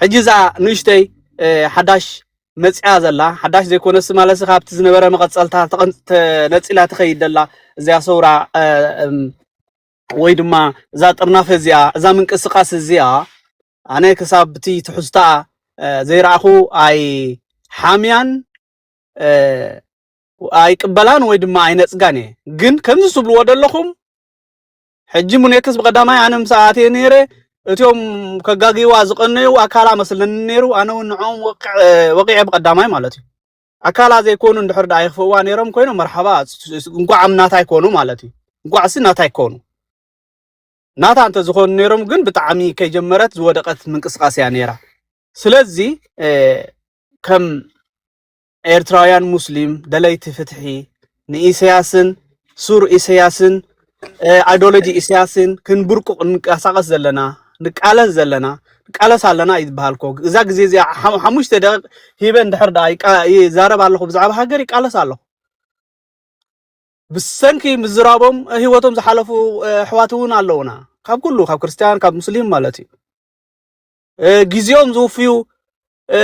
ሕጂ እዛ ንእሽተይ ሓዳሽ መፅያ ዘላ ሓዳሽ ዘይኮነስ ማለሲ ካብቲ ዝነበረ መቐፀልታ ተነፂላ ትኸይድ ዘላ እዚኣ ሰውራ ወይ ድማ እዛ ጥርናፈ እዚኣ እዛ ምንቅስቃስ እዚኣ ኣነ ክሳብ እቲ ትሕዝታ ዘይረኣኹ ኣይ ሓምያን ኣይቅበላን ወይ ድማ ኣይነፅጋን እየ ግን ከምዚ ትብልዎ ዘለኹም ሕጂ ሙኔክስ ብቀዳማይ ኣነ ምስ ኣትየ ነይረ እትዮም ከጋግይዋ ዝቀነዩ ኣካላ መስለኒ ነይሩ ኣነ እውን ንዕኦም ወቂዐ ብቀዳማይ ማለት እዩ ኣካላ ዘይኮኑ እንድሕር ደኣ ይኽፍእዋ ነይሮም ኮይኖም መርሓባ እንኳዕ ኣብ ናታይ ኮኑ ማለት እዩ እንኳዕሲ ናታይ ኮኑ ናታ እንተዝኾኑ ነይሮም ግን ብጣዕሚ ከይጀመረት ዝወደቀት ምንቅስቃስ እያ ነይራ። ስለዚ ከም ኤርትራውያን ሙስሊም ደለይቲ ፍትሒ ንኢሰያስን ሱር ኢሰያስን ኣይዶሎጂ ኢሰያስን ክንብርቁቕ ንንቀሳቐስ ዘለና ንቃለስ ዘለና ንቃለስ ኣለና እዩ ዝበሃል እኮ እዛ ግዜ እዚኣ ሓሙ- ሓሙሽተ ደቂቕ ሂበ እንድሕር ደኣ ይቃ- ይዛረብ ኣለኹ ብዛዕባ ሃገር ይቃለስ ኣለኹ ብሰንኪ ምዝራቦም ህይወቶም ዝሓለፉ እ፣ ኣሕዋት እውን ኣለውና ካብ ኩሉ ካብ ክርስትያን ካብ ሙስሊም ማለት እዩ እ፣ ግዜኦም ዝውፍዩ እ፣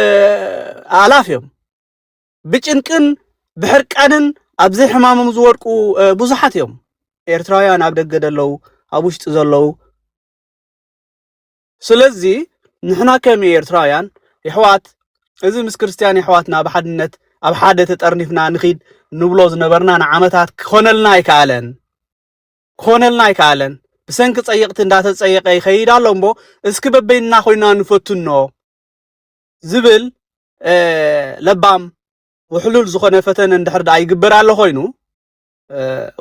ኣላፍ እዮም ብጭንቅን ብሕርቃንን ኣብዚ ሕማሞም ዝወድቁ ብዙሓት እዮም ኤርትራውያን ኣብ ደገ ዘለዉ ኣብ ውሽጢ ዘለዉ ስለዚ ንሕና ከም ኤርትራውያን የሕዋት እዚ ምስ ክርስትያን የሕዋትና ኣብ ሓድነት ኣብ ሓደ ተጠርኒፍና ንኺድ ንብሎ ዝነበርና ንዓመታት ክኾነልና ኣይከኣለን ክኾነልና ኣይከኣለን ብሰንኪ ጸየቕቲ እንዳተጸየቀ ይኸይድ ኣሎ እምቦ እስኪ በበይንና ኮይና ንፈትኖ ዝብል ለባም ውሕሉል ዝኾነ ፈተነ እንድሕር ደኣ ይግበር ኣሎ ኮይኑ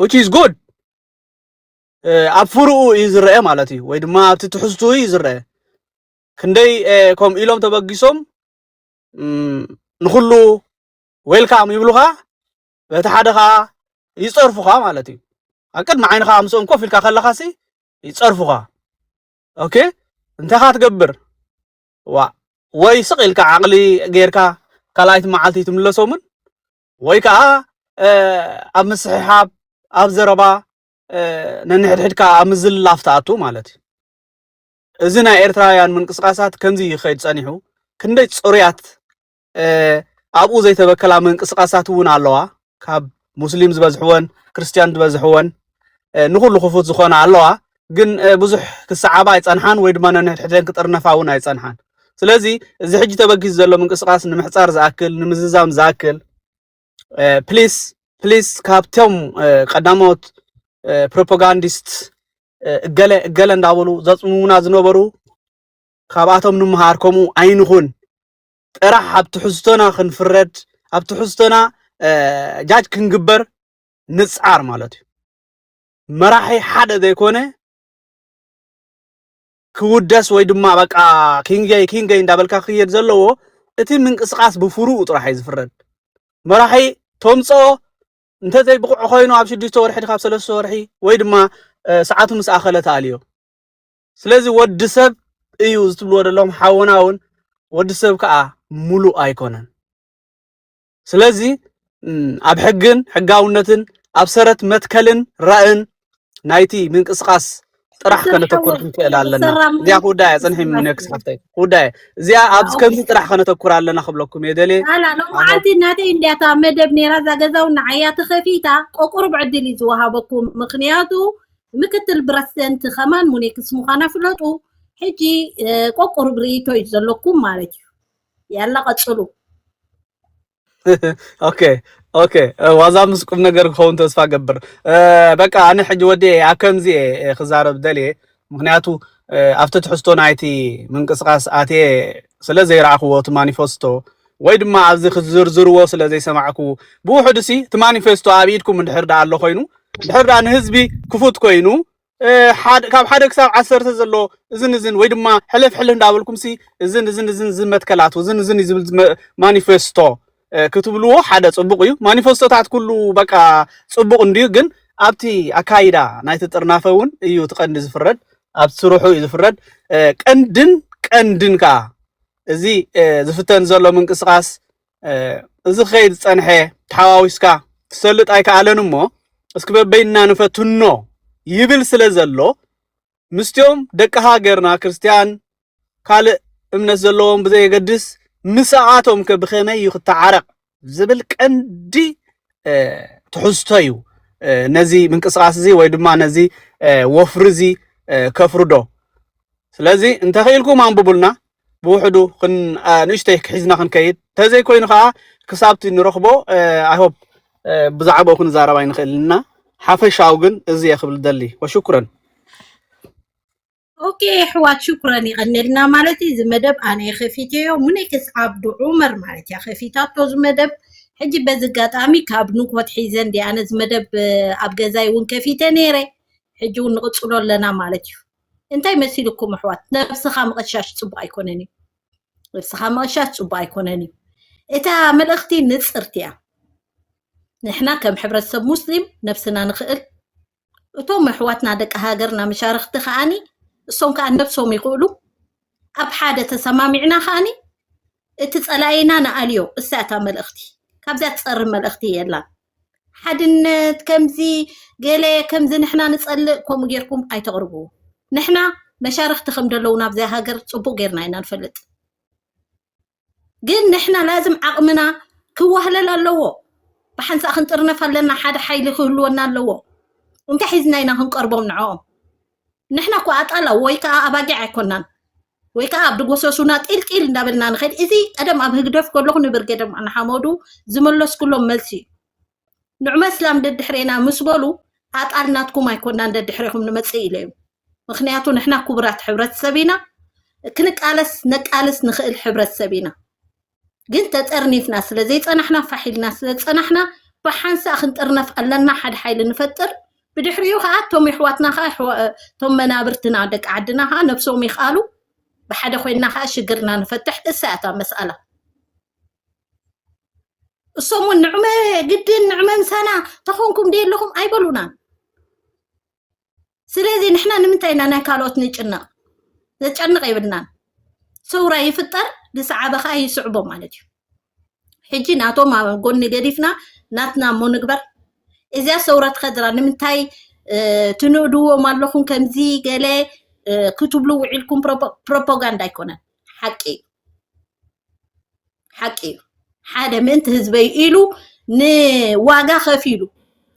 ዊች ኢዝ ጉድ ኣብ ፍርኡ እዩ ዝረአ ማለት እዩ ወይ ድማ ኣብቲ ትሕዝትኡ እዩ ዝረአ ክንደይ ከምኡ ኢሎም ተበጊሶም ንኩሉ ዌልካም ይብሉኻ በቲ ሓደ ከዓ ይፀርፉኻ ማለት እዩ ኣብ ቅድሚ ዓይንኻ ምስኦም ኮፍ ኢልካ ከለኻሲ ይፀርፉኻ ኦኬ እንታይኻ ትገብር ዋእ ወይ ስቅ ኢልካ ዓቅሊ ጌርካ ካልኣይቲ መዓልቲ ትምለሶምን ወይ ከዓ ኣብ ምስሕሓብ ኣብ ዘረባ ነንሕድሕድካ ኣብ ምዝልላፍ ትኣቱ ማለት እዩ እዚ ናይ ኤርትራውያን ምንቅስቃሳት ከምዚ ይኸይድ ጸኒሑ ክንደይ ጽሩያት ኣብኡ ዘይተበከላ ምንቅስቃሳት እውን ኣለዋ ካብ ሙስሊም ዝበዝሕወን ክርስትያን ዝበዝሕወን ንኩሉ ክፉት ዝኾነ ኣለዋ ግን ብዙሕ ክሰዓባ ኣይፀንሓን ወይ ድማ ነንሕድሕደን ክጥርነፋ እውን ኣይፀንሓን ስለዚ እዚ ሕጂ ተበጊሱ ዘሎ ምንቅስቃስ ንምሕፃር ዝኣክል ንምዝዛም ዝኣክል ፕሊስ ፕሊስ ካብቶም ቀዳሞት ፕሮፓጋንዲስት እገለ እገለ እንዳበሉ ዘፅሙሙና ዝነበሩ ካብኣቶም ንምሃር ከምኡ ኣይንኹን ጥራሕ ኣብ ትሕዝቶና ክንፍረድ ኣብ ትሕዝቶና ጃጅ ክንግበር ንጻር ማለት እዩ መራሒ ሓደ ዘይኮነ ክውደስ ወይ ድማ በቃ ኪንገይ ኪንገይ እንዳበልካ ክየድ ዘለዎ እቲ ምንቅስቃስ ብፍሩኡ ጥራሕ እዩ ዝፍረድ መራሒ ተምፅኦ እንተዘይ ብቑዕ ኮይኑ ኣብ ሽዱሽተ ወርሒ ካብ ሰለስተ ወርሒ ወይ ድማ ሰዓቱ ምስ ኣኸለ ተኣልዮ ስለዚ ወዲ ሰብ እዩ ዝትብልዎ ዘለኹም ሓውና እውን ወዲ ሰብ ከዓ ሙሉእ ኣይኮነን። ስለዚ ኣብ ሕግን ሕጋውነትን ኣብ ሰረት መትከልን ራእን ናይቲ ምንቅስቃስ ጥራሕ ከነተኩር ክንክእል ኣለና። እዚኣ ክውዳያ ፅንሒ ምነክስ ሓፍተይ ክውዳያ እዚኣ ኣብ ከምዚ ጥራሕ ከነተኩር ኣለና ክብለኩም እየ ደልየ ላላ ሎማዓንቲ እናተይ እንዲያታ መደብ ነይራ እዛ ገዛውን ንዓያ ተኸፊታ ቆቁርብ ዕድል እዩ ዝወሃበኩም ምክንያቱ ምክትል ብረስደንት ከማን ሙኔክስ ምዃና ፍለጡ ሕጂ ቆቁሩብ ርእይቶ እዩ ዘለኩም ማለት እዩ ያላ ቀፅሉ ኦኬ ኦኬ ዋዛ ምስ ቁም ነገር ክኸውን ተስፋ ገብር በቃ ኣነ ሕጂ ወዲ ኣብ ከምዚ እየ ክዛረብ ደልየ ምክንያቱ ኣብቲ ትሕዝቶ ናይቲ ምንቅስቃስ ኣትየ ስለ ዘይረኣኽዎ እቲ ማኒፈስቶ ወይ ድማ ኣብዚ ክትዝርዝርዎ ስለ ዘይሰማዕኩ፣ ብውሑዱሲ እቲ ማኒፌስቶ ኣብ ኢድኩም እንድሕር ደኣ ኣሎ ኮይኑ፣ እንድሕር ደኣ ንህዝቢ ክፉት ኮይኑ፣ ካብ ሓደ ክሳብ ዓሰርተ ዘሎ እዝን እዝን ወይ ድማ ሕልፍ ሕልፍ እንዳበልኩምሲ እዝን እዝን እዝን እዝን መትከላት እዝን እዝን ዝብል ማኒፌስቶ ክትብልዎ ሓደ ጽቡቕ እዩ ማኒፌስቶታት ኩሉ በቃ ጽቡቕ እንድዩ ግን ኣብቲ ኣካይዳ ናይቲ ጥርናፈ እውን እዩ እቲ ቀንዲ ዝፍረድ ኣብ ስርሑ እዩ ዝፍረድ ቀንድን ቀንድን ከዓ እዚ ዝፍተን ዘሎ ምንቅስቓስ እዚ ክኸይድ ዝፀንሐ ተሓዋዊስካ ትሰልጥ ኣይከኣለን እሞ እስኪ በበይንና ንፈትኖ ይብል ስለ ዘሎ ምስቲኦም ደቂ ሃገርና ክርስትያን ካልእ እምነት ዘለዎም ብዘየገድስ ምስኣቶም ከ ብኸመይ እዩ ክተዓረቕ ዝብል ቀንዲ ትሕዝቶ እዩ ነዚ ምንቅስቃስ እዚ ወይ ድማ ነዚ ወፍሪ እዚ ከፍርዶ ስለዚ እንተኽኢልኩም ኣንብቡልና ብውሕዱ ንእሽተይ ክሒዝና ክንከይድ ተዘይኮይኑ ከዓ ክሳብቲ ንረኽቦ ኣይሆፕ ብዛዕባኡ ክንዛረብ ኣይንኽእልና ሓፈሻዊ ግን እዚ እየ ክብል ደሊ ወሽኩረን ኦኬ ኣሕዋት ሽኩረን ይቐነልና ማለት እዩ። እዚ መደብ ኣነ ከፊተዮ ሙኔክስ ዓብዱ ዑመር ማለት እያ ከፊታቶ እዚ መደብ ሕጂ በዚ ኣጋጣሚ ካብ ንኮት ሒዘ እንዲ ኣነ እዚ መደብ እ፣ ኣብ ገዛይ እውን ከፊተ ነይረ ሕጂ እውን ንቕፅሎ ኣለና ማለት እዩ። እንታይ መሲልኩም ኣሕዋት ነብስኻ ምቕሻሽ ፅቡቕ ኣይኮነን እዩ። ነብስኻ ምቕሻሽ ፅቡቕ ኣይኮነን እዩ። እታ መልእኽቲ ንፅርቲ እያ። ንሕና ከም ሕብረተሰብ ሙስሊም ነብስና ንኽእል እቶም ኣሕዋትና ደቂ ሃገርና መሻርኽቲ ከዓኒ እሶም ከዓ ነብሶም ይኽእሉ ኣብ ሓደ ተሰማሚዕና ከዓኒ እቲ ጸላኢና ንኣልዮ እሳ እታ መልእኽቲ ካብዛ ትጸሪ መልእኽቲ የላን ሓድነት ከምዚ ገለ ከምዚ ንሕና ንጸልእ ከምኡ ጌርኩም ኣይተቕርብዎ ንሕና መሻርኽቲ ከም ደለውና ኣብዛ ሃገር ጽቡቕ ጌርና ኢና ንፈልጥ ግን ንሕና ላዝም ዓቕምና ክዋህለል ኣለዎ ብሓንሳእ ክንጥርነፍ ኣለና ሓደ ሓይሊ ክህልወና ኣለዎ እንታይ ሒዝና ኢና ክንቀርቦም ንዕኦም ንሕና እኮ ኣጣላ ወይ ከዓ ኣባጊዕ ኣይኮናን ወይ ከዓ ኣብ ድጎሰሱና ጢልጢል እንዳበልና ንኸድ እዚ ቀደም ኣብ ህግደፍ ከለኹ ንብርጌደም ኣንሓመዱ ዝመለስኩሎም መልሲ እዩ ንዑ መስላም ደድሕሬና ምስ በሉ ኣጣል ናትኩም ኣይኮናን ደድሕሬኹም ንመፅእ ኢለዮም ምክንያቱ ንሕና ክቡራት ሕብረተሰብ ኢና ክንቃለስ ነቃልስ ንኽእል ሕብረተሰብ ኢና ግን ተጠርኒፍና ስለ ዘይፀናሕና ፋሕ ኢልና ስለ ዝፀናሕና ብሓንሳእ ክንጥርነፍ ኣለና ሓደ ሓይሊ ንፈጥር ብድሕሪኡ ከዓ እቶም የሕዋትና ከዓ ኣሕዋ- እቶም መናብርትና ደቂ ዓድና ከዓ ነብሶም ይኽኣሉ ብሓደ ኮይንና ከዓ ሽግርና ንፈትሕ እሳ እያ እታ መስኣላ እሶም እውን ንዕመ ግድን ንዕመ ምሳና ተኾንኩም ደ ኣለኹም ኣይበሉናን ስለዚ ንሕና ንምንታይ ኢና ናይ ካልኦት ንጭነቕ ዘጨንቕ የብልናን ሰውራ ይፍጠር ዝሰዓበ ከዓ ይስዕቦ ማለት እዩ ሕጂ ናቶም ኣብ ጎኒ ገዲፍና ናትና እሞ ንግበር እዚያ ሰውራ ትኸድራ ንምንታይ እ፣ ትንእድዎም ኣለኹም ከምዚ ገለ እ፣ ክትብሉ ውዒልኩም ፕሮፖ- ፕሮፓጋንዳ ኣይኮነን ሓቂ እዩ ሓቂ እዩ ሓደ ምእንቲ ህዝበይ ኢሉ ንዋጋ ከፊሉ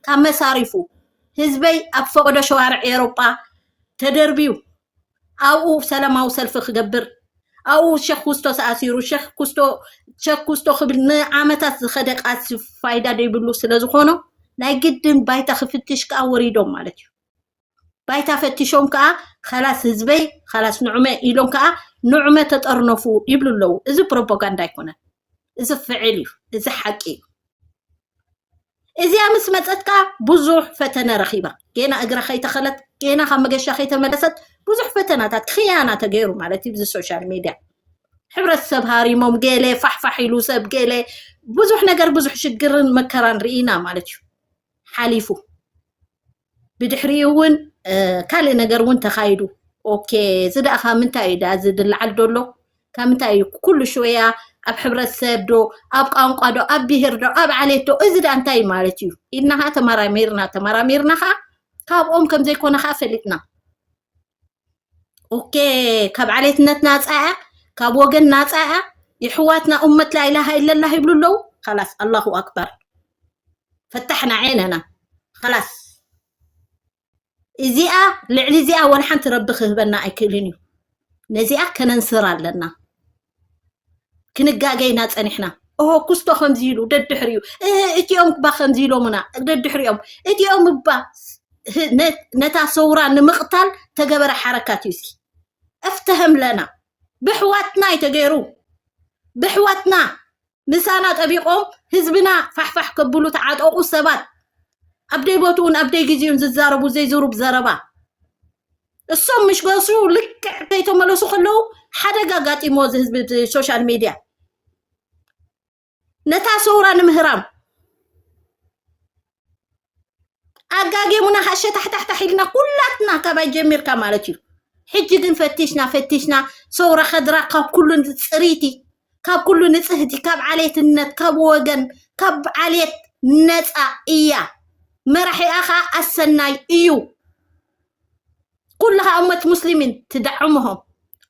ካብ መሳሪፉ ህዝበይ ኣብ ፈቅዶ ሸዋርዕ ኤሮጳ ተደርብዩ ኣብኡ ሰላማዊ ሰልፊ ክገብር ኣብኡ ሸክ ኩስቶ ተኣሲሩ ሸክ ኩስቶ ሸክ ኩስቶ ክብል ንዓመታት ዝኸደ ቃልሲ ፋይዳ ዘይብሉ ስለ ዝኾኖ ናይ ግድን ባይታ ክፍትሽ ከዓ ወሪዶም ማለት እዩ ባይታ ፈቲሾም ከዓ ኸላስ ህዝበይ ኸላስ ንዑመ ኢሎም ከዓ ንዑመ ተጠርነፉ ይብሉ ኣለዉ እዚ ፕሮፓጋንዳ ኣይኮነን እዚ ፍዕል እዩ እዚ ሓቂ እዩ እዚኣ ምስ መፀት ከዓ ብዙሕ ፈተነ ረኺባ ጌና እግራ ከይተኸለት ጌና ካብ መገሻ ከይተመለሰት ብዙሕ ፈተናታት ክያና ተገይሩ ማለት እዩ እዚ ሶሻል ሚድያ ሕብረተሰብ ሃሪሞም ገለ ፋሕፋሕ ኢሉ ሰብ ገለ ብዙሕ ነገር ብዙሕ ሽግርን መከራን ርኢና ማለት እዩ ሓሊፉ ብድሕሪኡ እውን ካልእ ነገር እውን ተኻይዱ ኦኬ እዚ ደኣ ካብ ምንታይ እዩ ደኣ እዚ ዝለዓል ደሎ ካብ ምንታይ እዩ ኩሉ ሽወያ ኣብ ሕብረተሰብ ዶ ኣብ ቋንቋ ዶ ኣብ ብሄር ዶ ኣብ ዓሌት ዶ እዚ ደኣ እንታይ እዩ ማለት እዩ ኢልና ከዓ ተመራሚርና ተመራሚርና ከዓ ካብኦም ከም ዘይኮነ ከዓ ፈሊጥና ኦኬ ካብ ዓሌትነት ናፃ እያ ካብ ወገን ናፃ እያ የሕዋትና ኡመት ላኢላሃ ኢለላህ ይብሉ ኣለዉ ላስ ኣላሁ ኣክበር ፈታሕና ዓይነና ላስ እዚኣ ልዕሊ እዚኣ ወላ ሓንቲ ረቢ ክህበና ኣይክእልን እዩ ነዚኣ ከነንስር ኣለና ክንጋገ ኢና ፀኒሕና እሆ ኩስቶ ከምዚ ኢሉ ደድሕሪኡ እቲኦም እባ ከምዚ ኢሎምና ደድሕሪኦም እቲኦም እባ ነታ ሰውራ ንምቕታል ተገበረ ሓረካት እዩ እስኪ እፍተህም ለና ብሕዋትና እዩ ተገይሩ ብሕዋትና ምሳና ጠቢቆም ህዝብና ፋሕፋሕ ከብሉ ተዓጠቁ ሰባት ኣብ ደይ ቦትኡን ኣብ ደይ ግዜኡን ዝዛረቡ ዘይዝሩብ ዘረባ እሶም ምሽ ገሱ ልክዕ ከይተመለሱ ከለዉ ሓደጋ ኣጋጢሞ እዚ ህዝቢ እቲ ሶሻል ሚድያ ነታ ሰውራ ንምህራም ኣጋጌሙና ሃሸታሕታሕታሕ ኢልና ኩላትና ካባይ ጀሚርካ ማለት እዩ ሕጂ ግን ፈቲሽና ፈቲሽና ሰውራ ከድራ ካብ ኩሉ ፅሪቲ ካብ ኩሉ ንፅህቲ ካብ ዓሌትነት ካብ ወገን ካብ ዓሌት ነፃ እያ መራሒኣ ከዓ ኣሰናይ እዩ ኩልኻ እመት ሙስሊሚን ትደዕምሆም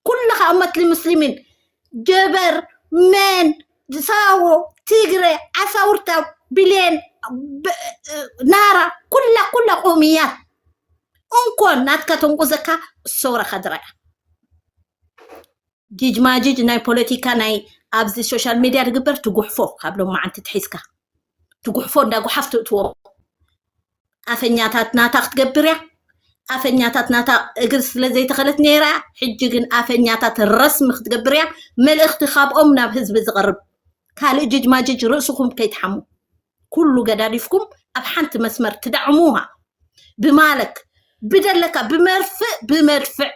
ኩልኻ እመት ሙስሊሚን ጀበር መን ሳዎ ትግረ ዓሳውርታ ብሌን ብ- ናራ ኩላ ኩላ ቁምያት እንኮን ናትካ ተንቁዘካ ሰውራ ከድራያ ጂጅ ማጂጅ ናይ ፖለቲካ ናይ ኣብዚ ሶሻል ሚድያ ዝግበር ትጉሕፎ ካብ ሎማዓንቲ ትሒዝካ ትጉሕፎ እንዳ ጉሓፍ ትእትዎ ኣፈኛታት ናታ ክትገብር እያ ኣፈኛታት ናታ እግር ስለ ዘይተኸለት ነይራ እያ ሕጂ ግን ኣፈኛታት ረስሚ ክትገብር እያ መልእኽቲ ካብኦም ናብ ህዝቢ ዝቐርብ ካልእ ጅጅ ማጅጅ ርእስኹም ከይትሓሙ ኩሉ ገዳዲፍኩም ኣብ ሓንቲ መስመር ትዳዕሙሃ ብማለት ብደለካ ብመርፍእ ብመድፍዕ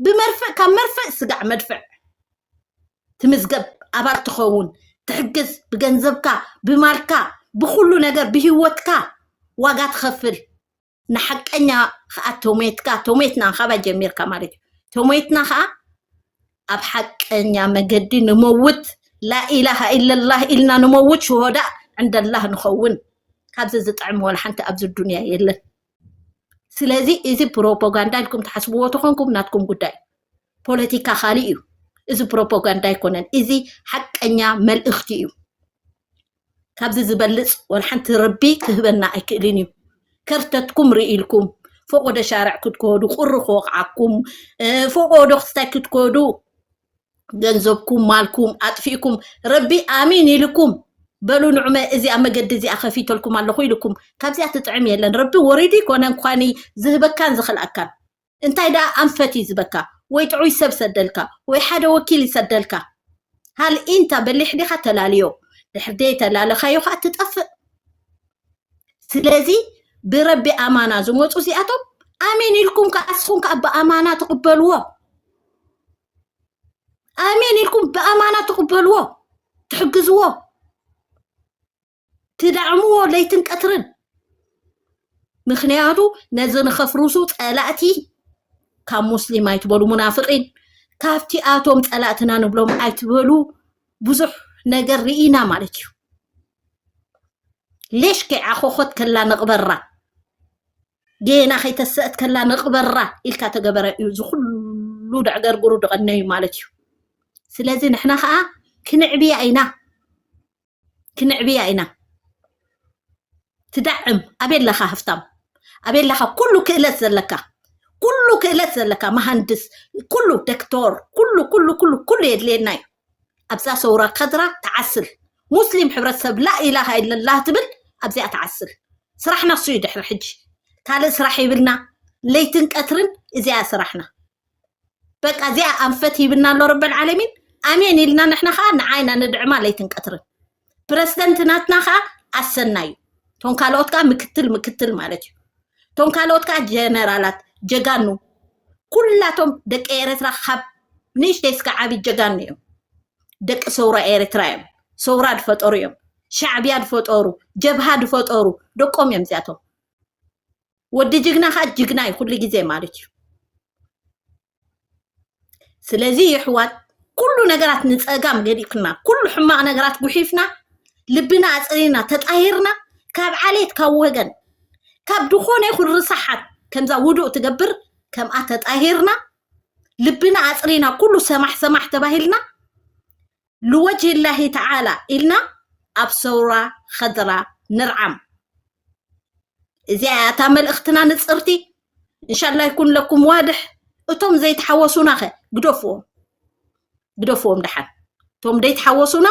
ብመርፍእ ካብ መርፍእ ስጋዕ መድፍዕ ትምዝገብ ኣባል ትኸውን ትሕግዝ ብገንዘብካ ብማልካ ብኩሉ ነገር ብሂወትካ ዋጋ ትኸፍል ንሓቀኛ ከዓ ቶሜትካ ቶሜትና ካባይ ጀሚርካ ማለት እዩ ቶሜትና ከዓ ኣብ ሓቀኛ መገዲ ንመውት ላኢላሃ ኢለላህ ኢልና ንመውት ሽሆዳ ዕንደላህ ንኸውን ካብዚ ዝጥዕም ወላ ሓንቲ ኣብዚ ዱንያ የለን ስለዚ እዚ ፕሮፓጋንዳ ኢልኩም ትሓስብዎ ተኾንኩም ናትኩም ጉዳይ ፖለቲካ ካልእ እዩ እዚ ፕሮፓጋንዳ ኣይኮነን እዚ ሓቀኛ መልእኽቲ እዩ ካብዚ ዝበልፅ ወልሓንቲ ረቢ ክህበና ኣይክእልን እዩ ከርተትኩም ርኢልኩም ፎቆዶ ሻርዕ ክትከዱ ቁሪ ክወቕዓኩም ፎቆዶ ክስታይ ክትከዱ ገንዘብኩም ማልኩም ኣጥፊእኩም ረቢ ኣሚን ኢልኩም በሉ ንዑመ እዚኣ መገዲ እዚኣ ከፊተልኩም ኣለኹ ኢልኩም ካብዚኣ ትጥዕም የለን ረቢ ወሪዱ ይኮነ እንኳን ዝህበካን ዝኽልኣካን እንታይ ደኣ ኣንፈት እዩ ዝበካ ወይ ጥዑይ ሰብ ሰደልካ ወይ ሓደ ወኪል ይሰደልካ ሃል ኢንታ በሊሕ ዲኻ ተላልዮ ድሕር ደይ ተላለኻዮ ከዓ ትጠፍእ ስለዚ ብረቢ ኣማና ዝመፁ እዚኣቶም ኣሜን ኢልኩም ከዓ ንስኹም ከዓ ብኣማና ትቕበልዎ ኣሜን ኢልኩም ብኣማና ትቕበልዎ ትሕግዝዎ ትዳዕምዎ ለይትን ቀትርን ምክንያቱ ነዚ ንኸፍርሱ ፀላእቲ ካብ ሙስሊም ኣይትበሉ ሙናፍቂን ካብቲ ኣቶም ፀላእትና ንብሎም ኣይትበሉ ብዙሕ ነገር ርኢና ማለት እዩ ሌሽ ከይዓኾኾት ከላ ነቕበራ ጌና ከይተሰአት ከላ ነቕበራ ኢልካ ተገበረ እዩ እዚ ኩሉ ደዕገርግሩ ድቐነዩ ማለት እዩ ስለዚ ንሕና ከዓ ክንዕብያ ኢና ክንዕብያ ኢና ትዳዕም ኣበይ ኣለኻ ሃፍታም ኣበይ ኣለኻ ኩሉ ክእለት ዘለካ ኩሉ ክእለት ዘለካ መሃንድስ ኩሉ ዶክተር ኩሉ ኩሉ ኩሉ ኩሉ የድልየና እዩ ኣብዛ ሰውራ ከድራ ትዓስል ሙስሊም ሕብረተሰብ ላኢላሃ ኢለላህ ትብል ኣብዚኣ ትዓስል ስራሕና እሱ እዩ ድሕሪ ሕጂ ካልእ ስራሕ ይብልና ለይትን ቀትርን እዚኣ ስራሕና በቃ እዚኣ ኣንፈት ሂብና ኣሎ ረበል ዓለሚን ኣሜን ኢልና ንሕና ከዓ ንዓይና ንድዕማ ለይትን ቀትርን ፕረስደንት ናትና ከዓ ኣሰና እዩ እቶም ካልኦት ከዓ ምክትል ምክትል ማለት እዩ እቶም ካልኦት ከዓ ጀነራላት ጀጋኑ ኩላቶም ደቂ ኤረትራ ካብ ንእሽተይ እስከ ዓብዪ ጀጋኑ እዮም ደቂ ሰውራ ኤረትራ እዮም ሰውራ ድፈጠሩ እዮም ሻዕብያ ድፈጠሩ ጀብሃ ድፈጠሩ ደቆም እዮም እዚኣቶም ወዲ ጅግና ከዓ ጅግና እዩ ኩሉ ግዜ ማለት እዩ ስለዚ የሕዋት ኩሉ ነገራት ንፀጋም ገዲፍና ኩሉ ሕማቕ ነገራት ጉሒፍና ልብና ኣፅሪና ተጣሂርና ካብ ዓሌት ካብ ወገን ካብ ዝኾነ ይኹን ርሳሓት ከምዛ ውዱእ ትገብር ከምኣ ተጣሂርና ልብና ኣፅሪና ኩሉ ሰማሕ ሰማሕ ተባሂልና ልወጅህ ላሂ ተዓላ ኢልና ኣብ ሰውራ ኸድራ ንርዓም እዚኣ እያ እታ መልእኽትና ንፅርቲ እንሻላ ይኩን ለኩም ዋድሕ እቶም ዘይተሓወሱና ኸ ግደፍዎም ግደፍዎም ደሓን እቶም ዘይተሓወሱና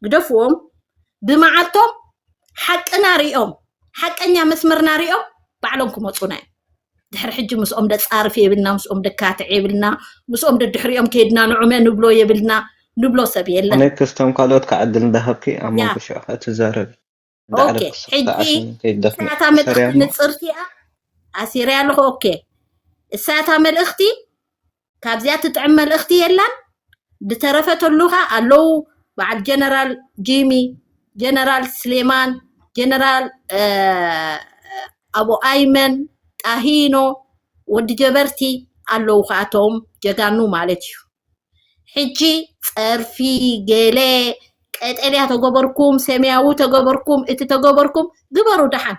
ግደፍዎም ብመዓልቶም ሓቅና ሪኦም ሓቀኛ መስመርና ሪኦም ባዕሎም ክመፁና እዮም ድሕሪ ሕጂ ምስኦም ደፃርፊ የብልና ምስኦም ደካትዕ የብልና ምስኦም ደድሕሪኦም ከይድና ንዑመ ንብሎ የብልና ንብሎ ሰብ የለን ኣነ ክስቶም ካልኦት ከዓ ዕድል እንዳሃብኪ ኣብ ያ መንጎ ሽዑ ከዓ ትዛረቢ ኦኬ እንዳዕረፍኪ ስክፍታ ሕጂ ዓስኒ ከይትደፍኒ እሳያታ ኣሰርያ መልእኽቲ እሞ ንፅርቲ እያ ኣሲርያ ኣለኹ ኦኬ እሳያታ መልእኽቲ ካብዚኣ ትጥዕም መልእኽቲ የላን ድተረፈ ተሉኻ ኣለዉ በዓል ጀነራል ጂሚ ጀነራል ስሌማን ጀነራል ኣቡ ኣይመን ጣሂኖ ወዲ ጀበርቲ ኣለዉ ከኣቶም ጀጋኑ ማለት እዩ ሕጂ ጸርፊ ገለ ቀጠልያ ተገበርኩም ሰማያዊ ተገበርኩም እቲ ተገበርኩም ግበሩ ደሓን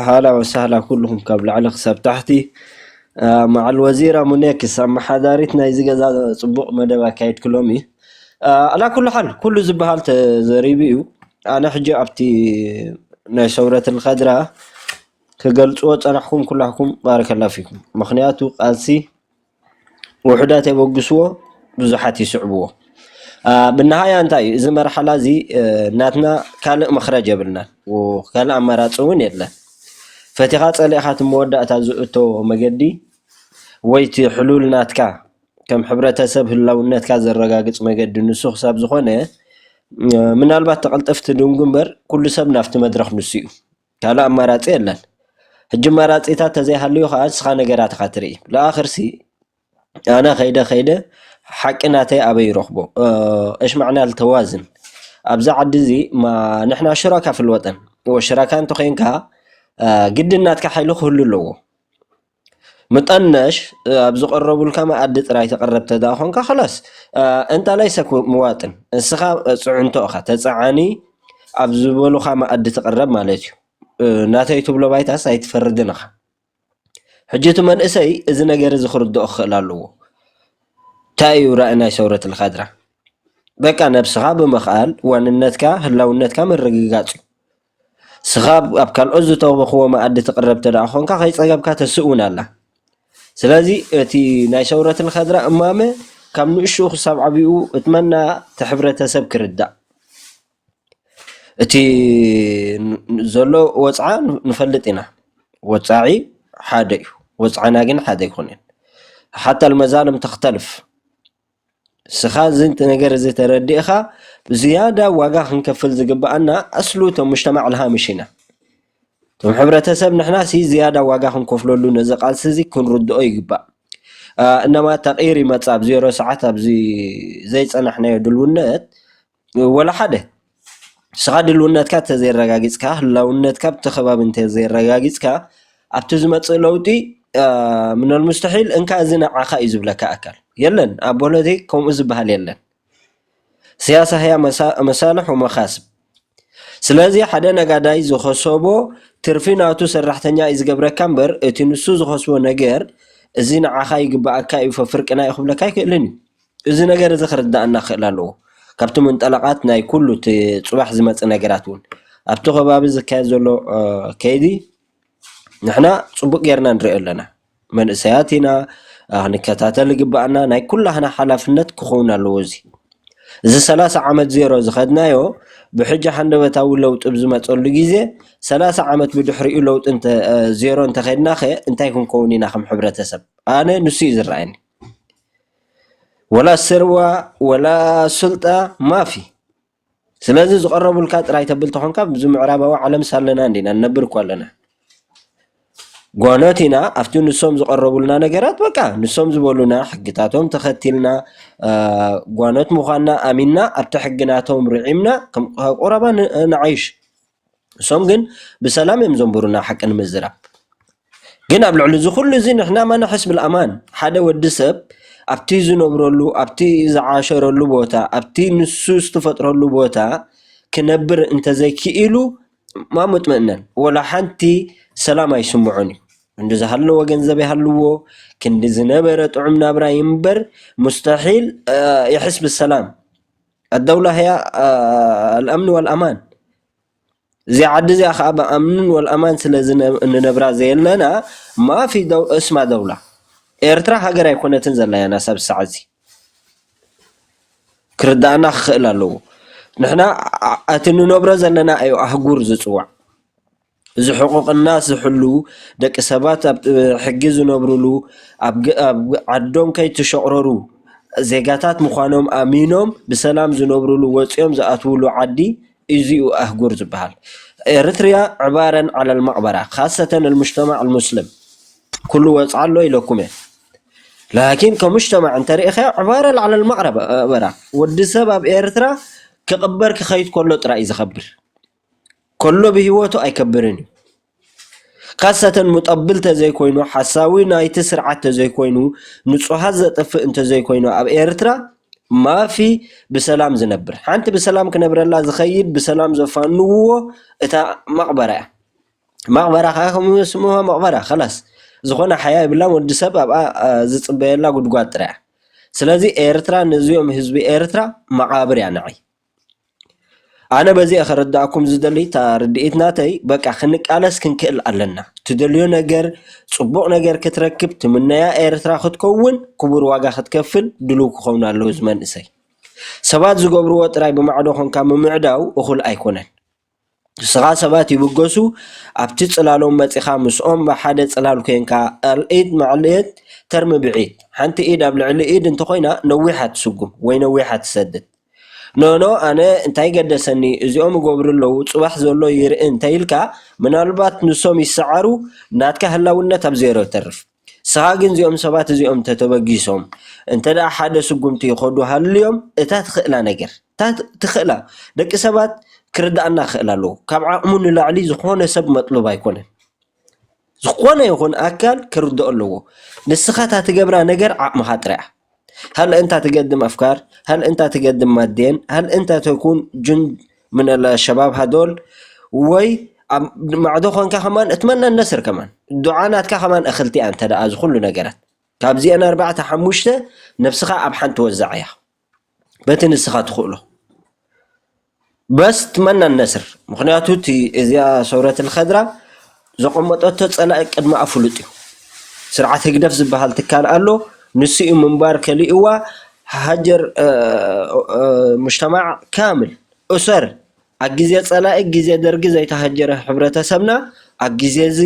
ኣህላ ወሳህላ ኩሉኹም ካብ ላዕሊ ክሳብ ታሕቲ መዓል ወዚራ ሙኔክስ ኣመሓዳሪት ናይዚ ገዛ ፅቡቕ መደብ ኣካይድኪ ሎሚ ኣላ ኩሉ ሓል ኩሉ ዝበሃል ተዘሪቡ እዩ ኣነ ሕጂ ኣብቲ ናይ ሰውረት ልከድራ ክገልፅዎ ፀናሕኩም ኩላሕኩም ባረከላ ፊኩም ምክንያቱ ቃልሲ ውሑዳት የበግስዎ ብዙሓት ይስዕብዎ ብነሃያ እንታይ እዩ እዚ መርሓላ እዚ ናትና ካልእ መኽረጅ የብልናን ካልእ ኣማራፂ እውን የለን ፈቲኻ ፀሊእኻ እቲ መወዳእታ ዝእቶ መገዲ ወይ እቲ ሕሉል ናትካ ከም ሕብረተሰብ ህላውነትካ ዘረጋግፅ መገዲ ንሱ ክሳብ ዝኾነ ምናልባት ተቐልጠፍ ትድንጉ እምበር ኩሉ ሰብ ናብቲ መድረኽ ንሱ እዩ። ካልእ ኣማራጺ የለን ሕጂ ኣማራጺታት ተዘይሃልዩ ከኣ ንስኻ ነገራት ኢኻ ትርኢ ለኣኽርሲ ኣነ ከይደ ከይደ ሓቂ ናተይ ኣበይ ይረኽቦ እሽማዕና ልተዋዝን ኣብዚ ዓዲ እዚ ንሕና ሽራካ ፍልወጠን ሽራካ እንተኾይንካ ግድን ናትካ ሓይሊ ክህሉ ኣለዎ። ምጠነሽ ኣብ ዝቐረቡልካ መኣዲ ጥራይ ተቕረብ ተድኣ ኾንካ ኸላስ እንታ ለይሰ ምዋጥን እስኻ ፅዕንቶ እኻ ተፀዓኒ ኣብ ዝበሉኻ መኣዲ ትቕረብ ማለት እዩ። ናተይ ትብሎ ባይታስ ኣይትፈርድን ኢኻ። ሕጂ እቲ መንእሰይ እዚ ነገር እዚ ክርድኦ ክኽእል ኣለዎ። እንታይ እዩ ራእይ ናይ ሰውረት ልካድራ? በቃ ነብስኻ ብምኽኣል ዋንነትካ ህላውነትካ ምርግጋፅ እዩ። ንስኻ ኣብ ካልኦት ዝተውበኽዎ መኣዲ ትቕረብ እንተ ኾንካ ከይፀገብካ ተስእ እውን ኣላ። ስለዚ እቲ ናይ ሰውረት ልኸድራ እማመ ካብ ንእሽኡ ክሳብ ዓብኡ እቲ መናኣ እቲ ሕብረተሰብ ክርዳእ እቲ ዘሎ ወፅዓ ንፈልጥ ኢና። ወፃዒ ሓደ እዩ ወፅዓና ግን ሓደ ኣይኮነን ሓታ ልመዛሎም ተኽተልፍ። ንስኻ እዚ ነገር እዚ ተረዲእኻ ብዝያዳ ዋጋ ክንከፍል ዝግበኣና ኣስሉ እቶም ሙጅተማዕ ልሃምሽ ኢና። እቶም ሕብረተሰብ ንሕና ሲ ዝያዳ ዋጋ ክንከፍለሉ ነዚ ቃልሲ እዚ ክንርድኦ ይግባእ። እነማ ተቕይር ይመጽእ ኣብ ዜሮ ሰዓት ኣብዚ ዘይጸናሕናዮ ድልውነት ወላ ሓደ! ንስኻ ድልውነትካ እንተዘየረጋጊፅካ፣ ህላውነትካ ኣብቲ ከባቢ እንተዘየረጋጊፅካ ኣብቲ ዝመፅእ ለውጢ ምነል ሙስተሒል እንካ እዚ ንዓኻ እዩ ዝብለካ ኣካል የለን። ኣብ ፖለቲክ ከምኡ ዝበሃል የለን። ስያሳ ህያ መሳልሕ ወመኻስብ ስለዚ ሓደ ነጋዳይ ዝኸሰቦ ትርፊ ናቱ ሰራሕተኛ እዩ ዝገብረካ እምበር እቲ ንሱ ዝኸስቦ ነገር እዚ ንዓኻ ይግበኣካ እዩ ፈፍርቅና እዩ ክብለካ ኣይክእልን እዩ። እዚ ነገር እዚ ክርደኣና ክኽእል ኣለዎ። ካብቲ ምንጠላቓት ናይ ኩሉ እቲ ጽባሕ ዝመጽእ ነገራት እውን ኣብቲ ከባቢ ዝካየድ ዘሎ ከይዲ ንሕና ጽቡቕ ጌርና ንሪኦ ኣለና። መንእሰያት ኢና ክንከታተል ይግበኣና። ናይ ኩላህና ሓላፍነት ክኸውን ኣለዎ እዚ እዚ ሰላሳ ዓመት ዜሮ ዝኸድናዮ ብሕጂ ሃንደበታዊ ለውጢ ብዝመፀሉ ግዜ ሰላሳ ዓመት ብድሕሪኡ ለውጢ ዜሮ እንተኸድናኸ እንታይ ክንከውን ኢና ከም ሕብረተሰብ ኣነ ንሱ እዩ ዝረኣየኒ ወላ ስርዋ ወላ ስልጣ ማፊ ስለዚ ዝቀረቡልካ ጥራይ ተብል ተኮንካ ኣብዚ ምዕራባዊ ዓለም ኣለና እንዲና ንነብር እኮ ኣለና ጓኖት ኢና ኣብቲ ንሶም ዝቀረቡልና ነገራት በቃ ንሶም ዝበሉና ሕግታቶም ተኸቲልና ጓኖት ምዃንና ኣሚንና ኣብቲ ሕግናቶም ርዒምና ከም ቁረባ ንዓይሽ ንሶም ግን ብሰላም እዮም ዘንብሩና ሓቂ ንምዝራብ ግን ኣብ ልዕሊ እዚ ኩሉ እዚ ንሕና ማ ንሕስ ብልኣማን ሓደ ወዲ ሰብ ኣብቲ ዝነብረሉ ኣብቲ ዝዓሸረሉ ቦታ ኣብቲ ንሱ ዝተፈጥረሉ ቦታ ክነብር እንተዘይክኢሉ ማ መጥመእነን ወላ ሓንቲ ሰላም ኣይስምዖን እዩ ክንዲ ዝሃለወ ገንዘብ ይሃልዎ ክንዲ ዝነበረ ጥዑም ናብራ ይንበር ሙስተሒል ይሕስ ብሰላም ኣደውላ ህያ ኣልኣምኒ ወልኣማን እዚ ዓዲ እዚኣ ከዓ ብኣምንን ወልኣማን ስለ እንነብራ ዘየለና ማፊ ደው እስማ ደውላ ኤርትራ ሃገር ኣይኮነትን ዘላ ያና ሳብ ሳዕ እዚ ክርድኣና ክኽእል ኣለዎ ንሕና እቲ እንነብሮ ዘለና ኣዩ ኣህጉር ዝፅዋዕ እዚ ሕቁቅና ዝሕልዉ ደቂ ሰባት ኣብ ሕጊ ዝነብርሉ ኣብ ዓዶም ከይተሸቅረሩ ዜጋታት ምኳኖም ኣሚኖም ብሰላም ዝነብርሉ ወፅዮም ዝኣትዉሉ ዓዲ እዚ እዩ ኣህጉር ዝባሃል ኤረትርያ ዕባረን ዓለል መቅበራ ካሰተ ልሙጅተማዕ ልሙስልም ኩሉ ወፅዓ ኣሎ ኢለኩም እየ ላኪን ከሙጅተማዕ እንተሪኢካዮ ዕባረል ዓለል መቅበራ ወዲ ሰብ ኣብ ኤረትራ ክቅበር ክከይድ ከሎ ጥራይ እዩ ዝከብር። ከሎ ብሂወቱ ኣይከብርን እዩ ካሳተ ሙጠብል ተዘይኮይኑ ሓሳዊ ናይቲ ስርዓት ተዘይኮይኑ ንፁሃት ዘጥፍእ እንተዘይኮይኑ ኣብ ኤርትራ ማፊ ብሰላም ዝነብር ሓንቲ ብሰላም ክነብረላ ዝከይድ ብሰላም ዘፋንውዎ እታ መቅበራ እያ መቅበራ ከኣ ከምኡ ስምዋ መቅበራ ከላስ ዝኮነ ሓያ የብላን ወዲ ሰብ ኣብኣ ዝፅበየላ ጉድጓድ ጥራይ እያ ስለዚ ኤርትራ ነዚኦም ህዝቢ ኤርትራ መቃብር እያ ንዓይ ኣነ በዚ እየ ከረድኣኩም ዝደሊ እታ ርድኢት ናተይ በቃ ክንቃለስ ክንክእል ኣለና ትደልዮ ነገር ፅቡቕ ነገር ክትረክብ ትምነያ ኤርትራ ክትከውን ክቡር ዋጋ ክትከፍል ድልው ክኸውን ኣለዎ እዚ መንእሰይ ሰባት ዝገብርዎ ጥራይ ብማዕዶ ኾንካ ምምዕዳው እኹል ኣይኮነን። ንስኻ ሰባት ይብገሱ ኣብቲ ጽላሎም መጺኻ ምስኦም ኣብ ሓደ ጽላል ኮንካ ኣልዒት መዕልዒት ተርምብዒት ሓንቲ ኢድ ኣብ ልዕሊ ኢድ እንተኾይና ነዊሓ ትስጉም ወይ ነዊሓ ትሰድድ ኖኖ ኣነ እንታይ ገደሰኒ እዚኦም ይገብሩ ኣለዉ ጽባሕ ዘሎ ይርኢ እንተኢልካ ምናልባት ንሶም ይሰዓሩ ናትካ ህላውነት ኣብ ዜሮ ይተርፍ። ንስኻ ግን እዚኦም ሰባት እዚኦም ተተበጊሶም እንተ ሓደ ስጉምቲ ይኸዱ ሃልዮም እታ ትኽእላ ነገር እታ ትኽእላ ደቂ ሰባት ክርድኣና ክኽእል ኣለዎ ካብ ዓቕሙ ንላዕሊ ዝኾነ ሰብ መጥሉብ ኣይኮነን ዝኾነ ይኹን ኣካል ክርድኦ ኣለዎ ንስኻ እታ ትገብራ ነገር ዓቕምኻ ጥራያ ሀል እንታ ትገድም አፍካር ሀል እንታ ትገድም ማዴን ሀል እንታ ተኩን ጁንድ ምን አልሸባብ ሀዶል ወይ ኣብ ማዕዶ ኮንካ ከማን እትመነ ነስር ከማን ዱዓ ናትካ ከማን እክልቲ ኣንተ ደኣ እዚ ኩሉ ነገራት ካብዚኤን ኣርባዕተ ሓሙሽተ ነብስኻ ኣብ ሓንቲ ወዛዕ እያ በቲ ንስኻ ትኽእሎ በስ ትመነን ነስር ምኽንያቱ እቲ እዚኣ ሰውረት ልኸድራ ዘቐመጠቶ ጸላኢ ቅድመኣ ፍሉጥ እዩ። ስርዓት ህግደፍ ዝበሃል ትካል ኣሎ ንሱ እዩ ምንባር ከሊኡዋ ሃጀር ሙጅተማዕ ካምል እሰር ኣብ ግዜ ጸላኢ ግዜ ደርጊ ዘይተሃጀረ ሕብረተሰብና ኣብ ግዜ እዚ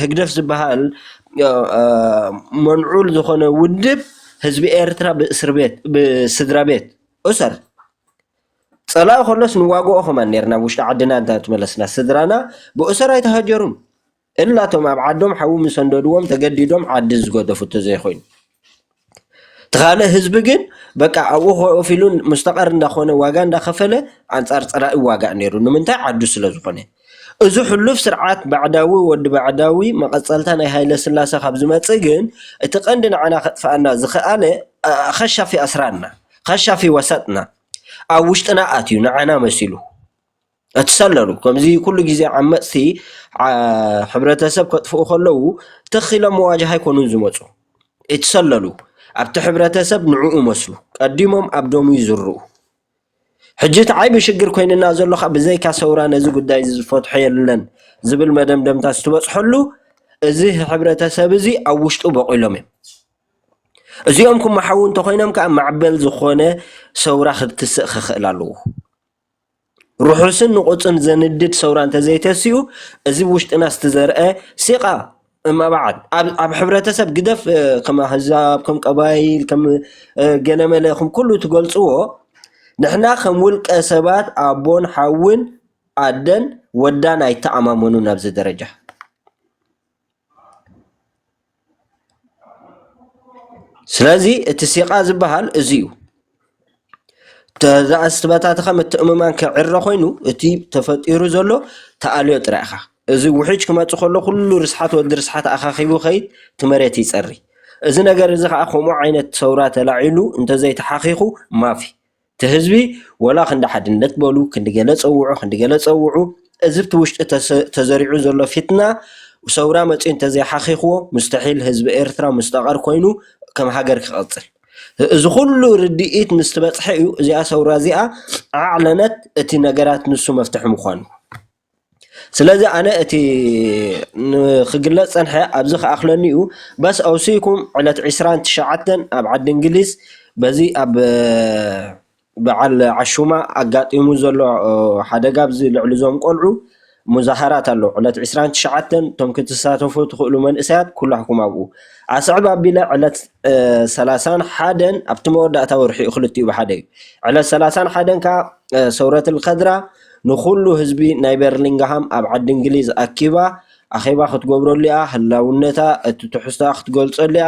ህግደፍ ዝበሃል መንዑል ዝኾነ ውድብ ህዝቢ ኤርትራ ብእስርቤት ብስድራቤት እሰር። ጸላኢ ከሎስ ንዋግኦ ከማን ኔርና ኣብ ውሽጢ ዓድና እንተ ተመለስና ስድራና ብእሱር ኣይተሃጀሩን እላ እቶም ኣብ ዓዶም ሓዊ ምስ ኣንደድዎም ተገዲዶም ዓዲ ዝገደፉ እንተዘይኮይኑ እቲ ካልእ ህዝቢ ግን በቃ ኣብኡ ኮፍ ኢሉ ሙስተቐር እንዳኾነ ዋጋ እንዳኸፈለ ኣንጻር ጸላኢ ይዋጋእ ኔሩ ንምንታይ ዓዱ ስለ ዝኾነ እዚ ሕሉፍ ስርዓት ባዕዳዊ ወዲ ባዕዳዊ መቐጸልታ ናይ ሃይለስላሰ ካብ ዝመጽእ ግን እቲ ቀንዲ ንዓና ከጥፍኣና ዝኸኣለ ኸሻፊ ኣስራንና ኸሻፊ ወሰጥና ኣብ ውሽጥና ኣትዩ ንዓና መሲሉ እትሰለሉ ከምዚ ኩሉ ግዜ ዓመጽቲ ሕብረተሰብ ከጥፍኡ ከለዉ ትኽ ኢሎም መዋጃህ ኣይኮኑን ዝመጹ እትሰለሉ ኣብቲ ሕብረተሰብ ንዕኡ መስሉ ቀዲሞም ኣብ ደሙ ይዝርኡ ሕጂ እቲ ዓይቢ ሽግር ኮይንና ዘሎ ከኣ ብዘይካ ሰውራ ነዚ ጉዳይዚ ዝፈትሖ የለን ዝብል መደምደምታ ስትበጽሐሉ እዚ ህሕብረተሰብዚ ኣብ ውሽጡ በቂሎም እዮም እዚኦም ክመሓዉ እንተኾይኖም ከኣ ማዕበል ዝኾነ ሰውራ ክትስእ ክኽእል ኣለዎ ርሑስን ንቑጽን ዘንድድ ሰውራ እንተዘይተሲኡ እዚ ውሽጥና ስትዘርአ ሲቓ እመብዓድ ኣብ ኣብ ሕብረተሰብ ግደፍ ከም ኣህዛብ ከም ቀባይል ከም ገለመለ ከም ኩሉ ትገልፅዎ ንሕና ከም ውልቀ ሰባት ኣቦን ሓውን ኣደን ወዳን ኣይተኣማመኑን ኣብዚ ደረጃ ስለዚ እቲ ሲቃ ዝባሃል እዚ እዩ። ተዘኣስበታትኻ ምትእምማን ክዕረ ኮይኑ እቲ ተፈጢሩ ዘሎ ተኣልዮ ጥራይ ኢኻ እዚ ውሕጅ ክመፅእ ከሎ ኩሉ ርስሓት ወዲ ርስሓት ኣኻኺቡ ከይድ እቲ መሬት ይፀሪ እዚ ነገር እዚ ኻዓ ከምኡ ዓይነት ሰውራ ተላዒሉ እንተዘይተሓኺኹ ማፊ እቲ ህዝቢ ወላ ክንዲ ሓድነት በሉ ክንዲ ገለ ፀውዑ ክንዲ ገለ ፀውዑ እዚ እቲ ውሽጢ ተዘሪዑ ዘሎ ፊትና ሰውራ መፂኡ እንተዘይሓኺኽዎ ሙስተሒል ህዝቢ ኤርትራ ሙስጠቐር ኮይኑ ከም ሃገር ክቕፅል እዚ ኩሉ ርድኢት ምስ ትበጽሐ እዩ እዚኣ ሰውራ እዚኣ ኣዕለነት እቲ ነገራት ንሱ መፍትሒ ምዃኑ ስለዚ ኣነ እቲ ንክግለጽ ጸንሐ ኣብዚ ክኣኽለኒ እዩ በስ ኣውሲኩም ዕለት ዕስራን ትሽዓተን ኣብ ዓዲ እንግሊዝ በዚ ኣብ በዓል ዓሹማ ኣጋጢሙ ዘሎ ሓደጋ ኣብዚ ልዕሊ እዞም ቆልዑ ሙዛሃራት ኣሎ ዕለት ዕስራን ትሽዓተን እቶም ክትሳተፉ ትኽእሉ መንእሰያት ኩላህኩም ኣብኡ ኣስዕብ ኣቢለ ዕለት ሰላሳን ሓደን ኣብቲ መወዳእታ ወርሒ እዩ ክልቲኡ ብሓደ እዩ ዕለት ሰላሳን ሓደን ከዓ ሰውረት ልከድራ ንኩሉ ህዝቢ ናይ በርሊንግሃም ኣብ ዓዲ እንግሊዝ ኣኪባ ኣኼባ ክትገብረሉ እያ ህላውነታ እቲ ትሕዝቶኣ ክትገልጸሉ እያ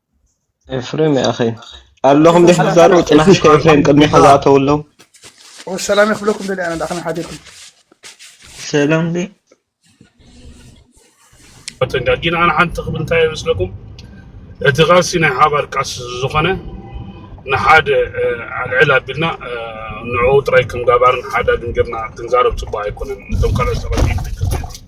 ኤፍሬም ይኣኺ ኣለኹም ዲሕ ትዛረቡ ጥናሕሽ ከኤፍሬም ቅድሚኻ ዝኣተው ኣለዉ ሰላም ይኽብለኩም ደሊ ኣነ ዳኣኸና ሓዲርኩም ሰላም ዲ ተንጋጊና ኣነ ሓንቲ ክብል እንታይ ይመስለኩም እቲ ቃልሲ ናይ ሓባር ቃልሲ ዝኾነ ንሓደ ኣልዕል ኣቢልና ንዕኡ ጥራይ ከም ጋባርን ሓዳግን ጌርና ክንዛረብ ፅቡቅ ኣይኮነን እቶም ካልኦት ሰባት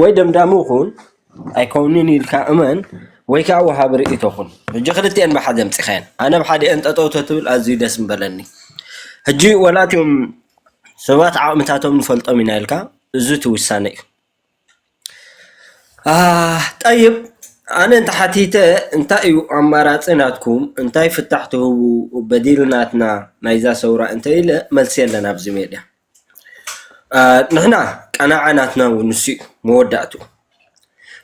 ወይ ደምዳሚ ኩን ኣይኮንን ኢልካ እመን ወይ ከዓ ወሃቢ ርእይቶ ኩን ሕጂ ክልቲኤን ብሓደ ኣምፂካየን ኣነ ኣብ ሓዲኤን ጠጠው ተትብል ኣዝዩ ደስ ምበለኒ ሕጂ ዋላ እቶም ሰባት ዓቅምታቶም ንፈልጦም ኢና ኢልካ እዚ እቲ ውሳነ እዩ ጠይብ ኣነ እንተሓቲተ እንታይ እዩ ኣማራፂ ናትኩም እንታይ ፍታሕ ትህቡ በዲል ናትና ናይዛ ሰውራ እንተኢለ መልሲ የለን ኣብዚ ሜድያ። ንሕና ቀናዓ ናትና ውን ንሱ ዩ መወዳእትኡ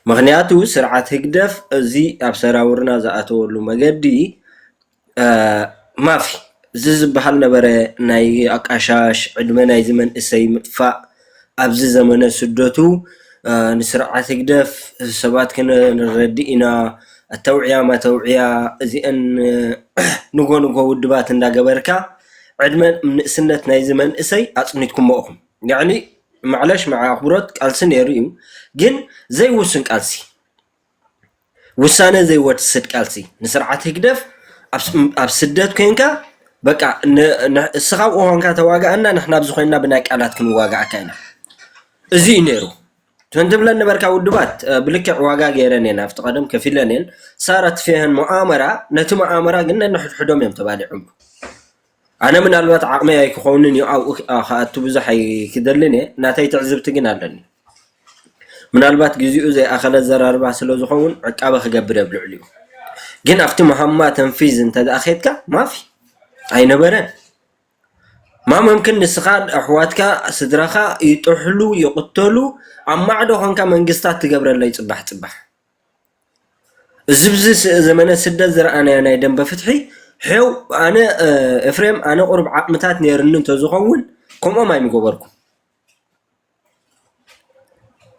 ምኽንያቱ ስርዓት ህግደፍ እዚ ኣብ ሰራውርና ዝኣተወሉ መገዲ ማፊ እዚ ዝባሃል ዝነበረ ናይ ኣቃሻሽ ዕድመ ናይዚ መንእሰይ ምጥፋእ ኣብዚ ዘመነ ስደቱ ንስርዓት ህግደፍ ሰባት ከነረዲ ኢና ኣተውዕያ መተውዕያ እዚኤን ንጎ ንጎ ውድባት እንዳገበርካ ዕድመ ንእስነት ናይዚ መንእሰይ ኣጽኒትኩሞ ኢኹም። ያዕኒ ማዕለሽ ማዕ ኣኽብሮት ቃልሲ ነይሩ እዩ ግን ዘይውሱን ቃልሲ ውሳነ ዘይወስድ ቃልሲ ንስርዓት ህግደፍ ኣብ ስደት ኮንካ በቃ እስኻ ኣብኡ ኮንካ ተዋጋኣና ንሕና ኣብዚ ኮይንና ብናይ ቃላት ክንዋጋኣካ ኢና እዚ እዩ ነይሩ ከምቲ ትብለን ነበርካ ውድባት ብልክዕ ዋጋ ገይረን እየን ኣብቲ ቀደም ከፊለን እየን ሳር ኣትፊሀን መኣመራ ነቲ መኣመራ ግን ነንሕድሕዶም እዮም ተባሊዖም ኣነ ምናልባት ዓቕመይ ኣይክኸውንን እዩ ኣብኡ ክኣቱ ብዙሕ ኣይክደልን እየ ናተይ ትዕዝብቲ ግን ኣለኒ ምናልባት ግዜኡ ዘይኣኸለ ዘራርባ ስለ ዝኸውን ዕቃበ ክገብር እየ ብልዕሊኡ ግን ኣብቲ መሃማ ተንፊዝ እንተደኣ ኬድካ ማፊ ኣይነበረን ማመምክን ንስካ ኣሕዋትካ ስድራካ ይጥሕሉ ይቅተሉ ኣብ ማዕዶ ኮንካ መንግስታት ትገብረለይ ፅባሕ ፅባሕ እዚ ኣብዚ ዘመነ ስደት ዝረኣናዮ ናይ ደንበ ፍትሒ ሐው ኣነ ኤፍሬም ኣነ ቁሩብ ዓቅምታት ኔሩኒ እንተዝከውን ከምኦም ኣይምገበርኩን።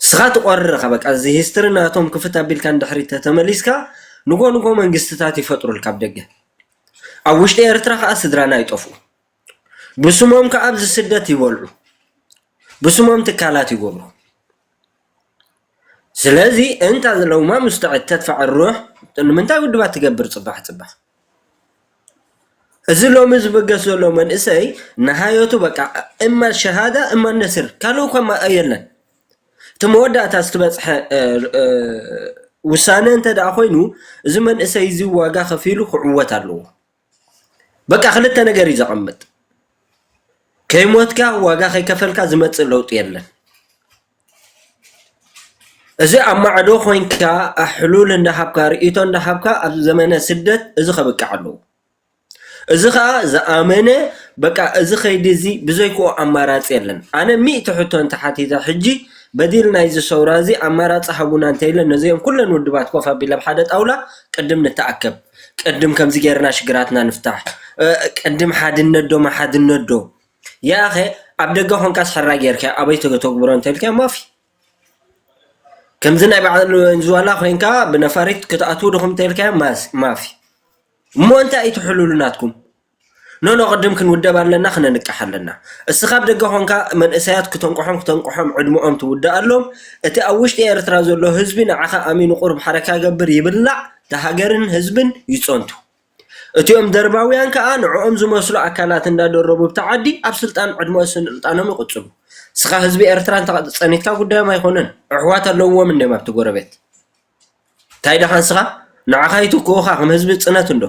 ንስኻ ትቖርር ኢኻ በቃ እዚ ሂስትሪ ናቶም ክፍት ኣቢልካ ንድሕሪት ተተመሊስካ ንጎ ንጎ መንግስትታት ይፈጥሩልካ ኣብ ደገ ኣብ ውሽጢ ኤርትራ ከኣ ስድራና ይጠፍኡ ብስሞም ከኣ ኣብዚ ስደት ይበልዑ ብስሞም ትካላት ይገብሩ። ስለዚ እንታ ዘለውማ ምስተዐት ተድፋዕ ኣሩሕ ንምንታይ ውድባት ትገብር ጽባሕ ጽባሕ እዚ ሎሚ ዝበገስ ዘሎ መንእሰይ ንሃዮቱ በቃ እማ ሸሃዳ እማ ነስር ካልእ እኳ ማ የለን እቲ መወዳእታ ዝተበጽሐ ውሳነ እንተ ደኣ ኮይኑ እዚ መንእሰይ እዚ ዋጋ ከፊሉ ክዕወት ኣለዎ በቃ ክልተ ነገር እዩ ዘቐምጥ ከይሞትካ ዋጋ ከይከፈልካ ዝመፅእ ለውጢ የለን እዚ ኣብ ማዕዶ ኮንካ ሕሉል እንዳሃብካ ርእይቶ እንዳሃብካ ኣብ ዘመነ ስደት እዚ ከብቅዕ ኣለዎ እዚ ከዓ ዝኣመነ በቃ እዚ ከይዲ እዚ ብዘይክኡ ኣማራፂ የለን ኣነ ሚእቲ ሕቶ እንተሓቲተ ሕጂ በዲል ናይዚ ሰውራ እዚ ኣማራፂ ሃቡና እንተኢለ ነዚኦም ኩለን ውድባት ኮፍ ኣቢለ ኣብ ሓደ ጣውላ ቅድም ንተኣከብ ቅድም ከምዚ ጌርና ሽግራትና ንፍታሕ ቅድም ሓድነት ዶ መሓድነት ዶ የኣኸ ኣብ ደገ ኮንካስ ሕራይ ጌርካ ኣበይ ተተግብሮ እንተልካዮ ማፊ ከምዚ ናይ በዓል ወንዝዋላ ኮንካ ብነፋሪት ክትኣትዉ ድኹም እንተልካዮ ማፊ እሞ እንታይ እዩ ትሕልሉ ናትኩም ኖኖ ቅድም ክንውደብ ኣለና ክነንቅሕ ኣለና እስኻ ኣብ ደገ ኮንካ መንእሰያት ክተንቅሖም ክተንቅሖም ዕድመኦም ትውድኣሎም እቲ ኣብ ውሽጢ ኤርትራ ዘሎ ህዝቢ ንዓኻ ኣሚኑ ቁሩብ ሓረካ ይገብር ይብላዕ ንሃገርን ህዝብን ይጸንቱ እቲኦም ደርባውያን ከኣ ንዕኦም ዝመስሉ ኣካላት እንዳደረቡ ብቲ ዓዲ ኣብ ስልጣን ዕድመ ስልጣኖም ይቕጽሉ እስኻ ህዝቢ ኤርትራ ጸኒትካ ጉዳዮም ኣይኮነን ኣሕዋት ኣለውዎም እንዲዮም ኣብቲ ጎረቤት ታይ ደኣ ንስኻ ንዓኻ ይትክኡኻ ከም ህዝቢ ፅነት እንዶ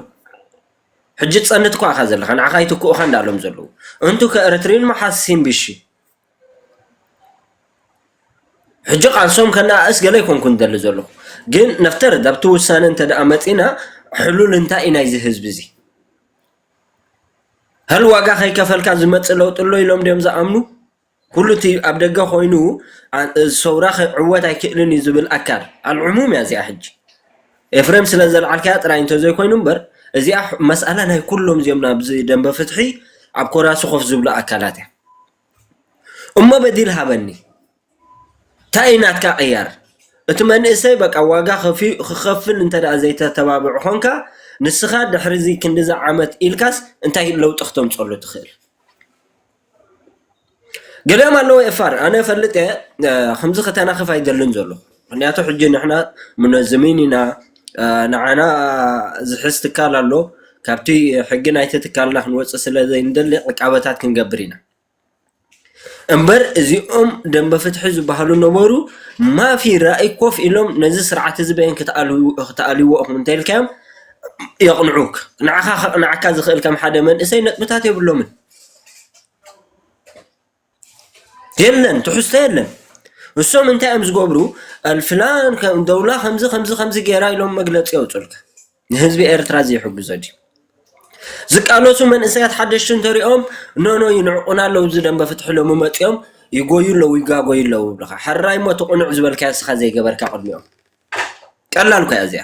ሕጂ ትፀንት እኳ ኢኻ ዘለኻ ንዓኻ ይትክኡኻ እንዳበሎም ዘለዉ እንቱ ከኤረትርይን መሓሲን ብሺ ሕጂ ቃልሶም ከነኣእስ ገለ ይኮንኩ ዝደሊ ዘለኹ ግን ነፍተርድ ኣብቲ ውሳነ እንተ ደኣ መፂና ሕሉል እንታይ እዩ ናይዚ ህዝቢ እዚ ሀል ዋጋ ከይከፈልካ ዝመፅእ ለውጢ ኣሎ ኢሎም ድዮም ዝኣምኑ ኩሉ እቲ ኣብ ደገ ኮይኑ ሰውራ ክዕወት ኣይክእልን እዩ ዝብል ኣካል ኣልዕሙም እያ እዚኣ ሕጂ ኤፍሬም ስለ ዘልዓልካያ ጥራይ እንተዘይኮይኑ እምበር እዚኣ መስኣላ ናይ ኩሎም እዚኦም ናብዚ ደንበ ፍትሒ ኣብ ኮራሲ ኮፍ ዝብሉ ኣካላት እያ እሞ በዲል ሃበኒ እንታይ እዩ ናትካ ቅያር እቲ መንእሰይ በቃ ዋጋ ከፊ- ክኸፍል እንተ ደኣ ዘይተተባብዕ ኾንካ ንስኻ ድሕሪ እዚ ክንዲዚ ዓመት ኢልካስ እንታይ ለውጢ ክተምፀሉ ትኽእል ገሊኦም ኣለዉ ኤፋር ኣነ እፈልጥ እየ ከምዚ ከተናኽፍ ኣይደልን ዘለኹ ምኽንያቱ ሕጂ ንሕና ሙነዝሚን ኢና ንዓና ዝሕዝ ትካል ኣሎ ካብቲ ሕጊ ናይቲ ትካልና ክንወፅእ ስለ ዘይንደሊ ዕቃበታት ክንገብር ኢና እምበር እዚኦም ደንበ ፍትሒ ዝበሃሉ ነበሩ ማፊ ራእይ ኮፍ ኢሎም ነዚ ስርዓት እዚ በየን ክትኣልይዎ ኢኹም እንተኢልካዮም የቕንዑክ ንዓኻ ከቕንዓካ ዝኽእል ከም ሓደ መንእሰይ ነጥብታት የብሎምን። የለን ትሕዝቶ የለን እሶም እንታይ እዮም ዝገብሩ ኣልፍላን ከም ደውላ ከምዚ ከምዚ ከምዚ ገይራ ኢሎም መግለፂ የውፅልካ ንህዝቢ ኤርትራ ዘይሕግዞ ድዩ ዝቃለሱ መንእሰያት ሓደሽቲ እንተሪኦም ኖኖ ይንዕቁና ኣለዉ እዚ ደንበ ፍትሒ ሎሚ መፂኦም ይጎዩ ኣለዉ ይጋጎዩ ኣለዉ ይብልኻ ሕራይ እሞ እቲ ቁኑዕ ዝበልካዮ እስኻ ዘይገበርካ ቅድሚኦም ቀላል እኮ እያ እዚኣ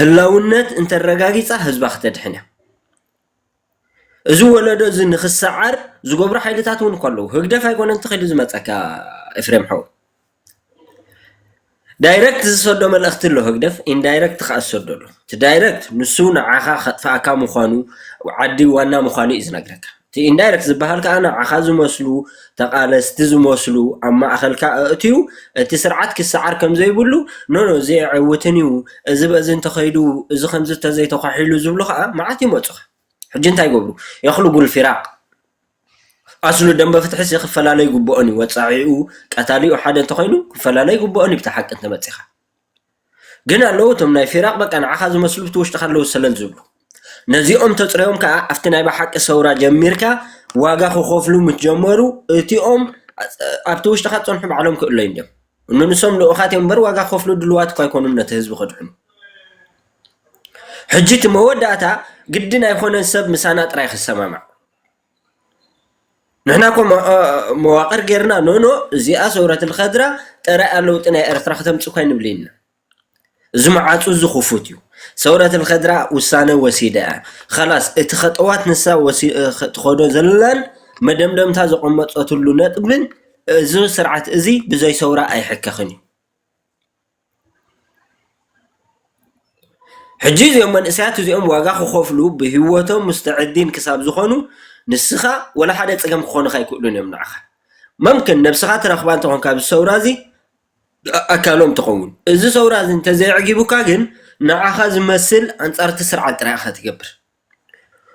ህላውነት እንተረጋጊጻ ህዝባ ክተድሕን እያ። እዚ ወለዶ እዚ ንክሰዓር ዝገብሩ ሓይልታት እውን እኮ ኣለዉ ህግደፍ ኣይኮነን ተኺሉ ዝመፀካ ኤፍሬም ሓው ዳይረክት ዝሰዶ መልእኽቲ ኣሎ ህግደፍ ኢንዳይረክት ከዓ ዝሰዶ ኣሎ እቲ ዳይረክት ንሱ ንዓኻ ከጥፍኣካ ምዃኑ ዓዲ ዋና ምዃኑ እዩ ዝነግረካ እቲ ኢንዳይረክት ዝበሃል ከኣ ንዓኻ ዝመስሉ ተቓለስቲ ዝመስሉ ኣብ ማእኸልካ ኣእትዩ እቲ ስርዓት ክሰዓር ከምዘይብሉ ኖ ኖ እዚ ኣየዕውትን እዩ እዚ በዚ እንተኸይዱ እዚ ከምዚ ተዘይተዃሒሉ ዝብሉ ከኣ መዓት ይመጹኻ ሕጂ እንታይ ይገብሩ የኽልጉል ፊራቅ ኣስሉ ደምበ ፍትሒሲ ክፈላለ ይግብኦን እዩ ወጻዒኡ ቀታሊኡ ሓደ እንተኾይኑ ክፈላለ ይግብኦን እዩ ብቲ ሓቂ እንተመጺኻ። ግን ኣለዉ እቶም ናይ ፊራቕ በቃ ንዓኻ ዝመስሉ ብቲ ውሽጥኻ ኣለዉ ሰለል ዝብሉ ነዚኦም ተፅረዮም ከዓ ኣብቲ ናይ ብሓቂ ሰውራ ጀሚርካ ዋጋ ክኸፍሉ ምስ ጀመሩ እቲኦም ኣብቲ ውሽጥኻ ዝፀንሑ ባዕሎም ክእለዩ እዮም ንንሶም ልኡኻት እዮም እምበር ዋጋ ክኸፍሉ ድልዋት እኳ ኣይኮኑን ነቲ ህዝቢ ከድሕኑ ሕጂ እቲ መወዳእታ ግድን ኣይኮነን ሰብ ምሳና ጥራይ ክሰማማዕ ንሕና እኮ መዋቅር ጌርና ኖ ኖ እዚኣ ሰውረት ልኸድራ ጠራይ እያ ለውጢ ናይ ኤርትራ ክተምፅ እኳ ኣይንብልን ኢና እዚ መዓፁ እዚ ክፉት እዩ ሰውረት ልኸድራ ውሳነ ወሲዳ እያ ኸላስ እቲ ኸጠዋት ንሳ ትኸዶ ዘላን መደምደምታ ዘቐመጠትሉ ነጥብን እዚ ስርዓት እዚ ብዘይ ሰውራ ኣይሕከኽን እዩ። ሕጂ እዞም መንእሰያት እዚኦም ዋጋ ክኸፍሉ ብሂወቶም ሙስተዕዲን ክሳብ ዝኾኑ ንስኻ ወላ ሓደ ጸገም ክኾኑኻ ኣይክእሉን እዮም ንዓኻ መምክን ነብስኻ ትረኽባ እንተኾንካ ኣብዚ ሰውራ እዚ ኣካሎም ትኸውን እዚ ሰውራ እዚ እንተዘይ ኣዕጊቡካ ግን ንዓኻ ዝመስል ኣንጻር እቲ ስርዓት ጥራይ ኢኻ ትገብር።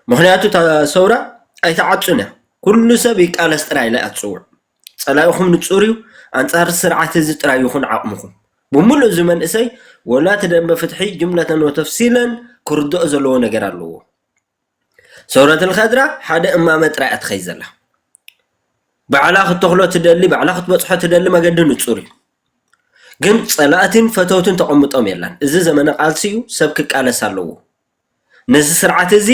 ምኽንያቱ እታ ሰውራ ኣይትዓጹን እያ ኩሉ ሰብ ይቃለስ ጥራይ ኢላ እያ ትጽውዕ። ጸላኢኹም ንጹር እዩ ኣንጻር እዚ ስርዓት እዚ ጥራይ ይኹን ዓቕምኹም። ብምሉእ እዚ መንእሰይ ወላ እቲ ደምበ ፍትሒ ጅምለተን ወተፍሲለን ክርድኦ ዘለዎ ነገር ኣለዎ። ሰውረት ልኸድራ ሓደ እማመ ጥራይ እያ ትኸይድ ዘላ። ባዕላ ክትተኽሎ ትደሊ ባዕላ ክትበጽሖ ትደሊ መገዲ ንጹር እዩ። ግን ጸላእትን ፈተውትን ተቐምጦም የላን። እዚ ዘመነ ቃልሲ እዩ ሰብ ክቃለስ ኣለዎ። ነዚ ስርዓት እዚ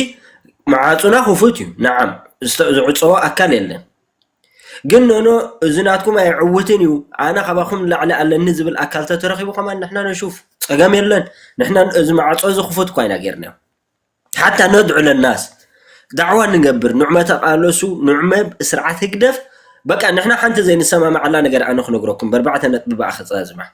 መዓጹና ክፉት እዩ ነዓም ዝዕጸዎ ኣካል የለን ግን ኖኖ እዚ ናትኩም ኣይዕውትን እዩ ኣነ ካባኹም ንላዕሊ ኣለኒ ዝብል ኣካል ተተረኺቡ ከማን ንሕና ነሹፍ ጸገም የለን ንሕና እዚ መዓጾ እዚ ክፉት እኳ ኢና ጌርናዮ ሓታ ነድዑ ለናስ ዳዕዋ ንገብር ንዑ መተቃለሱ ንዑ መብ ስርዓት ህግደፍ በቃ ንሕና ሓንቲ ዘይንሰማማዓላ ነገር ኣነ ክነግረኩም በርባዕተ ነጥቢ ብኣ ክጸዝማ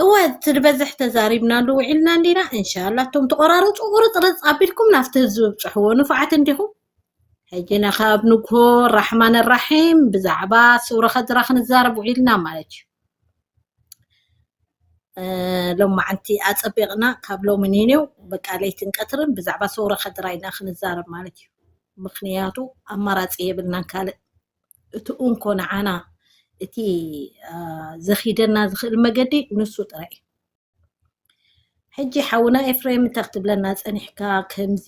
እወ እቲ ዝበዝሕ ተዛሪብናሉ ውዒልና እንዲና እንሻላ እቶም ተቆራረፁ ቁርፅርፅ ኣቢልኩም ናብቲ ህዝቢ ብፅሕዎ ንፉዓት እንዲኹም ሕጂ ነኻብ ንግሆ ራሕማን ራሒም ብዛዕባ ሱረ ከድራ ክንዛረብ ውዒልና ማለት እዩ ሎማዓንቲ ኣፀቢቕና ካብ ሎሚ ኒኔው በቃ ለይትን ቀትርን ብዛዕባ ሰውረ ከድራ ኢና ክንዛረብ ማለት እዩ ምክንያቱ ኣማራፂ የብልናን ካልእ እቲ እንኮ ንዓና እቲ ዘኺደና ዝኽእል መገዲ ንሱ ጥራይ እዩ ሕጂ ሓውና ኤፍሬም እንታይ ክትብለና ፀኒሕካ ከምዚ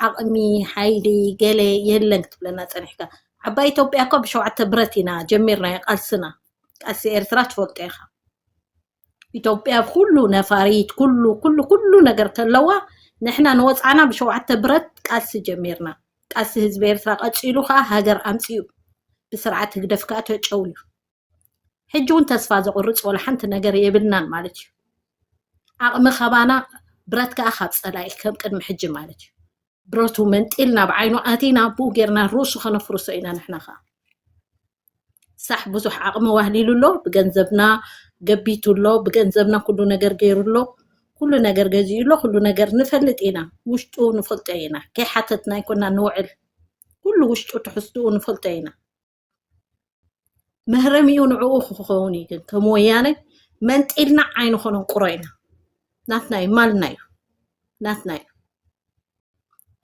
ዓቕሚ ሓይሊ ገለ የለን ክትብለና ፀኒሕካ ዓባይ ኢትዮጵያ እኮ ብሸውዓተ ብረት ኢና ጀሚርናዮ ቃልስና ቃልሲ ኤርትራ ትፈልጦ ኢኻ ኢትዮጵያ ኩሉ ነፋሪት ኩሉ ኩሉ ኩሉ ነገር ተለዋ ንሕና ንወፃዕና ብሸውዓተ ብረት ቃልሲ ጀሚርና ቃልሲ ህዝቢ ኤርትራ ቀፂሉ ከዓ ሃገር ኣምፂኡ ብስርዓት ህግደፍ ከዓ ተጨውዩ ሕጂ እውን ተስፋ ዘቑርፅ ወላ ሓንቲ ነገር የብልናን ማለት እዩ ዓቕሚ ካባና ብረት ከዓ ካብ ፀላኢ ከም ቅድሚ ሕጂ ማለት እዩ ብረቱ መንጢልና ብዓይኑ ኣቲና ብኡ ጌርና ርእሱ ከነፍርሶ ኢና ንሕና ከዓ ሳሕ ብዙሕ ዓቕሚ ዋህሊሉ ኣሎ ብገንዘብና ገቢቱ ኣሎ ብገንዘብና ኩሉ ነገር ገይሩ ኣሎ ኩሉ ነገር ገዚኡ ኣሎ ኩሉ ነገር ንፈልጥ ኢና ውሽጡ ንፈልጦ ኢና ከይሓተትና ኣይኮና ንውዕል ኩሉ ውሽጡ ትሕዝትኡ ንፈልጦ ኢና መህረሚኡ ንዕኡ ክኸውን እዩ ግን ከም ወያነ መንጢልና ዓይንኾነን ቁሮ ኢና ናትና እዩ ማልና እዩ ናትና እዩ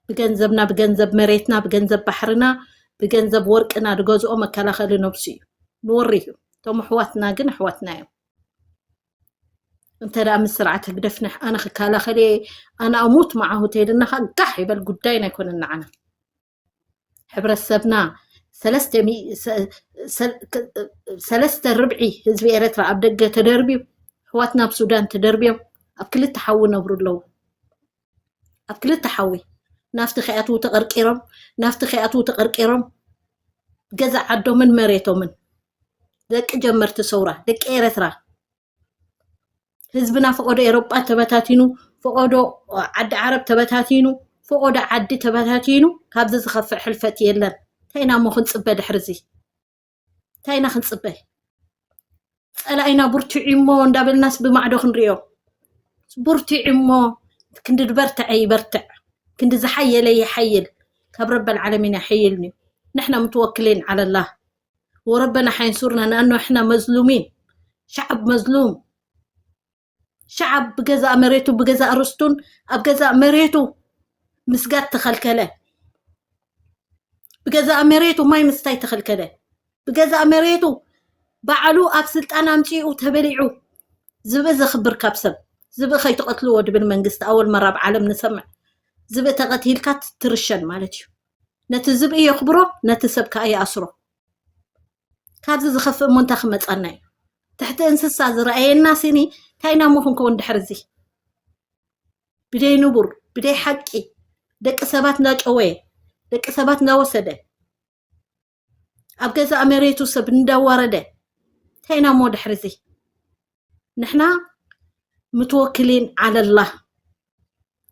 ብገንዘብና ብገንዘብ መሬትና ብገንዘብ ባሕርና ብገንዘብ ወርቅና ዝገዝኦ መከላኸሊ ነብሱ እዩ ንወሪ እዩ እቶም ኣሕዋትና ግን ኣሕዋትና እዮም እንተ ደኣ ምስ ስርዓት ህግደፍ ንሕ ኣነ ክከላኸል እየ ኣነ ኣሙት መዓሁ ተይልና ከዓ ጋሕ ይበል ጉዳይና ኣይኮነን ንዓና ሕብረተሰብና ሰለስተ ርብዒ ህዝቢ ኤረትራ ኣብ ደገ ተደርብዩ ኣሕዋትና ኣብ ሱዳን ተደርብዮም ኣብ ክልተ ሓዊ ይነብሩ ኣለዉ ኣብ ክልተ ሓዊ ናፍቲ ከይኣትዉ ተቐርቂሮም ናፍቲ ከይኣትዉ ተቐርቂሮም ገዛ ዓዶምን መሬቶምን ደቂ ጀመርቲ ሰውራ ደቂ ኤረትራ ህዝብና ፈቆዶ ኤሮጳ ተበታቲኑ ፈቆዶ ዓዲ ዓረብ ተበታቲኑ ፈቆዶ ዓዲ ተበታቲኑ ካብዚ ዝኸፍእ ሕልፈት የለን እንታይ ኢና እሞ ክንፅበ ድሕሪ እዚ እንታይ ኢና ክንፅበ ፀላኢና ብርትዑ እሞ እንዳበልናስ ብማዕዶ ክንሪኦ ብርትዑ እሞ ክንዲ ዝበርትዐ ይበርትዕ ክንዲ ዝሓየለ ይሓይል ካብ ረበል ዓለሚን ይሓይልኒ ንሕና ምትወክሊን ዓለላህ ወረበና ሓይንሱርና ንኣንሕና መዝሉሚን ሸዓብ መዝሉም ሸዓብ ብገዛእ መሬቱ ብገዛእ ርስቱን ኣብ ገዛእ መሬቱ ምስጋድ ተኸልከለ ብገዛእ መሬቱ ማይ ምስታይ ተኸልከለ ብገዛእ መሬቱ ባዕሉ ኣብ ስልጣን ኣምፂኡ ተበሊዑ ዝብኢ ዘኽብር ካብ ሰብ ዝብኢ ከይትቐትልዎ ድብል መንግስቲ ኣወል መራብ ዓለም ንሰምዕ ዝብኢ ተቐትልካ ትርሸን ማለት እዩ ነቲ ዝብኢ የኽብሮ ነቲ ሰብ ከዓ ይኣስሮ ካብዚ ዝኸፍእ እሞ እንታይ ክመፀና እዩ ትሕቲ እንስሳ ዝረኣየና ሲኒ እንታይ ኢና እሞ ክንከውን ድሕሪ እዚ ብደይ ንቡር ብደይ ሓቂ ደቂ ሰባት እናጨወየ ደቂ ሰባት እናወሰደ ኣብ ገዛእ መሬቱ ሰብ እንዳዋረደ እንታይ ኢና እሞ ድሕሪ እዚ ንሕና ምትወክሊን ዓለላ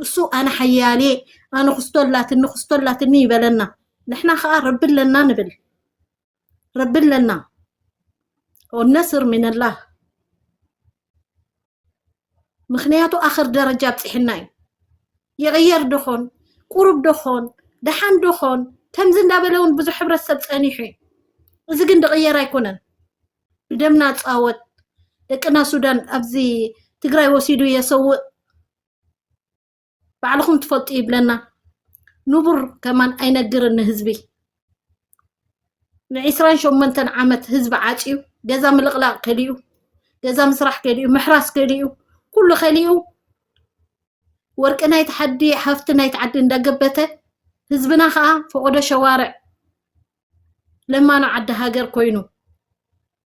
እሱ ኣነ ሓያሌ ኣነ ክስቶ ኣላትኒ ክስቶ ኣላትኒ ይበለና ንሕና ከዓ ረቢ ኣለና ንብል ረቢ ኣለና ወነስር ሚነላህ ምክንያቱ ኣክር ደረጃ ኣብፅሕና እዩ ይቅየር ዶ ይኮን ቁሩብ ዶ ይኮን ዳሓን ዶ ይኮን ከምዚ እንዳበለ እውን ብዙሕ ሕብረተሰብ ፀኒሑ እዩ እዚ ግን ዝቅየር ኣይኮነን ብደምና ንፃወት ደቅና ሱዳን ኣብዚ ትግራይ ወሲዱ የሰውእ ባዕልኹም ትፈልጡ ይብለና ንቡር ከማን ኣይነግርን ንህዝቢ ንዒስራን ሸሞንተን ዓመት ህዝቢ ዓፅዩ ገዛ ምልቕላቕ ከሊኡ ገዛ ምስራሕ ከሊኡ ምሕራስ ከሊኡ ኩሉ ከሊኡ ወርቂ ናይቲ ሓዲ ሃፍቲ ናይቲ ዓዲ እንዳገበተ ህዝብና ከዓ ፈቆዶ ሸዋርዕ ለማኖ ዓዲ ሃገር ኮይኑ